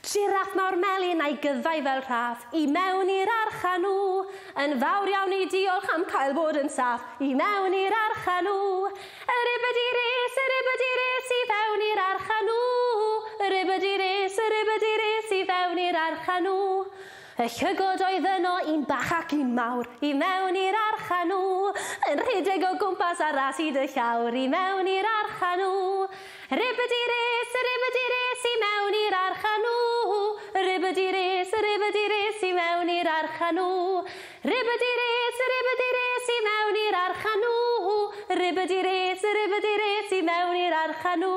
Jiráff mawr melyn a'i gyddau fel rhaff, i mewn i'r arch â nhw. Yn fawr iawn i diolch am cael bod yn saff, i mewn i'r arch â nhw. Y ribyd i res, y ribyd i res, i fewn i'r arch â nhw. Y ribyd i res, y ribyd i res, i fewn i'r arch â nhw. Y llygod oedd yno, un bach ac un mawr, i mewn i'r arch â nhw, yn rhedeg o gwmpas ar ras i dy llawr, i mewn i'r arch â nhw. Ribidi-ris, ribidi-ris, i mewn i'r arch â nhw, ribidi-ris, ribidi-ris, i mewn i'r arch â nhw. Ribidi-ris, ribidi-ris, i mewn i'r arch â nhw, ribidi-ris, ribidi-ris, i mewn i'r arch â nhw.